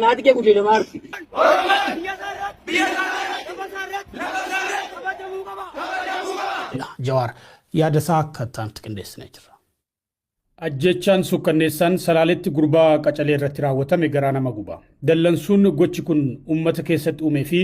Naati kee guddina maarti. Jawaar yaada isaa akka itti aanutti qindeessinee jirra. Ajjeechaan suukkanneessaan Salaaletti gurbaa qacalee irratti raawwatame garaa nama guba. Dallansuun gochi kun uummata keessatti uumee fi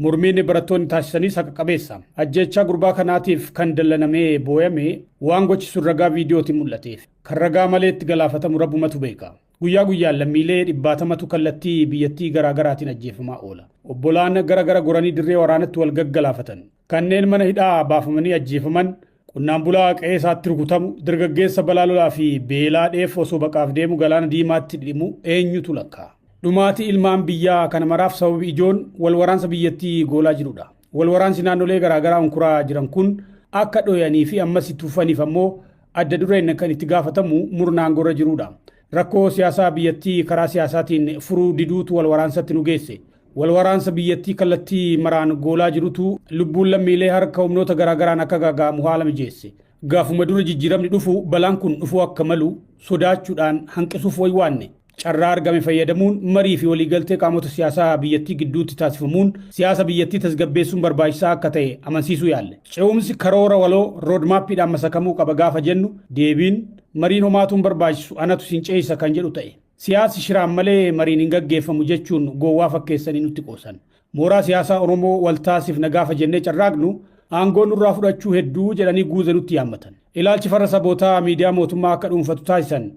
mormiin barattoonni taasisanis haqa qabeessa. Ajjeechaa gurbaa kanaatiif kan dallanamee booyame waan gochi sun ragaa viidiyootiin mul'ateef. Kan ragaa malee itti galaafatamu Rabbumatu beeka. Guyyaa guyyaan lammiilee dhibbaatamatu kallattii biyyattii garaa garaatiin ajjeefamaa oola. Obbolaan gara gara goranii dirree waraanatti wal gaggalaafatan, kanneen mana hidhaa baafamanii ajjeefaman, qonnaan bulaa qe'ee isaatti rukutamu, dargaggeessa balaa lolaa fi beelaa dheef osoo baqaaf deemu galaana diimaatti dhidhimu eenyutu lakkaa'a? Dhumaatii ilmaan biyyaa kana maraaf sababi ijoon wal waraansa biyyattii goolaa jirudha. Wal waraansi naannolee garaa garaa unkuraa jiran kun akka dhoyanii fi ammas itti fufaniif ammoo adda dureen kan itti gaafatamu murna aangoorra jiruudha. Rakkoo siyaasaa biyyattii karaa siyaasaatiin furuu diduutu wal waraansatti nu geesse. Wal waraansa biyyattii kallattii maraan goolaa jirutu lubbuun lammiilee harka humnoota garaa garaan akka gaaga'amu haala mijeesse. Gaafuma dura jijjiiramni dhufu balaan kun dhufuu akka malu sodaachuudhaan hanqisuuf waywaanne. Carraa argame fayyadamuun marii fi waliigaltee qaamota siyaasaa biyyattii gidduutti taasifamuun siyaasa biyyattii tasgabbeessuun barbaachisaa akka ta'e amansiisuu yaalle. Ce'umsi karoora waloo, road map, dhaan masakamuu qaba gaafa jennu deebiin, mariin homaatuu hin barbaachisu, anatu isin ceesisa kan jedhu ta'e. Siyaasi shiraan malee mariin hin gaggeeffamu jechuun gowwaa fakkeessanii nutti qoosan. Mooraa siyaasaa Oromoo wal taasifna gaafa jennee carraaqnu aangoo nurraa fudhachuu hedduu jedhanii guuza nutti yaammatan. Ilaalchi farra sabootaa miidiyaa mootummaa akka dhuunfatu taasisan.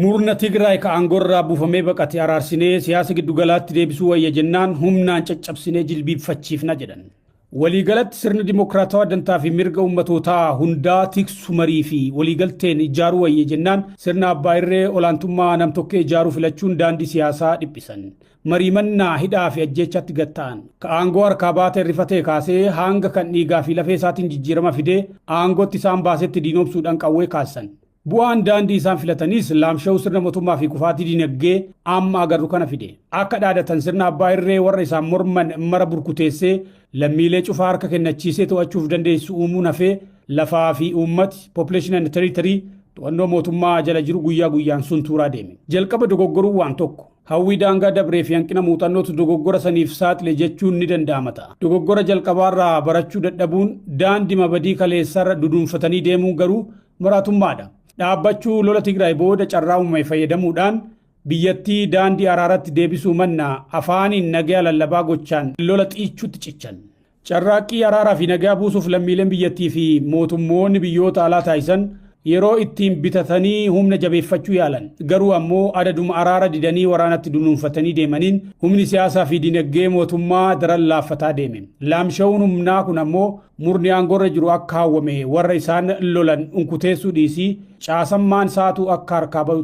Murna Tigraay ka aangorraa buufamee baqate araarsinee siyaasa giddu galaatti deebisuu wayya jennaan humnaan caccabsinee jilbiibfachiifna jedhan. Waliigalatti sirna dimokiraatawaa dantaa fi mirga ummatootaa hundaa tiksu marii fi waliigalteen ijjaaruu wayya jennaan sirna abbaa irree olaantummaa nam-tokkee ijaaruu filachuun daandii siyaasaa dhiphisan. Marii mannaa hidhaa fi ajjeechaatti gad ta'an. Ka aangoo harkaa baatee rifatee kaasee haanga kan dhiigaa fi lafee isaatiin jijjiirama fidee aangootti isaan baasetti diinoomsuudhaan qawwee kaassan. Bu'aan daandii isaan filataniis laamsha'uu sirna motummaa fi kufaatii dinagdee amma agarru kana fide. Akka dhaadatan sirna abbaa irree warra isaan morman mara burkuteessee lammiilee cufaa harka kennachiisee to'achuuf dandeessisu uumuun hafee lafaa fi uummati, population and territory, to'annoo mootummaa jala jiru guyyaa guyyaan suntuuraa deeme. Jalqaba dogoggoruun waan tokko. Hawwii daangaa dabree fi hanqina muuxannootu dogoggora saniif saaxile jechuun ni danda'ama ta'a. Dogoggora jalqabaarraa barachuu dadhabuun daandima badii kaleessaarra duduunfatanii deemuun garuu maraatummaadha. Dhaabbachuu lola Tigraay booda carraa uumame fayyadamuudhaan biyyattii daandii araaratti deebisuu mannaa afaaniin nagaya lallabaa gochaan lola xiichuutti cichan. Carraaqqii araaraa fi nagaya buusuuf lammiileen biyyattii fi mootummoonni biyyoota alaa taasisan yeroo ittiin bitatanii humna jabeeffachuu yaalan. Garuu ammoo adaduma araara didanii waraanatti dunuunfatanii deemaniin humni siyaasaa fi dinagdee mootummaa daran laaffataa deeme. Laamsha'uun humnaa kun ammoo Murni aangoorra jiru akka hawwame warra isaan lolan unkuteessuu dhiisii caasammaan isaatu akka harkaa bahu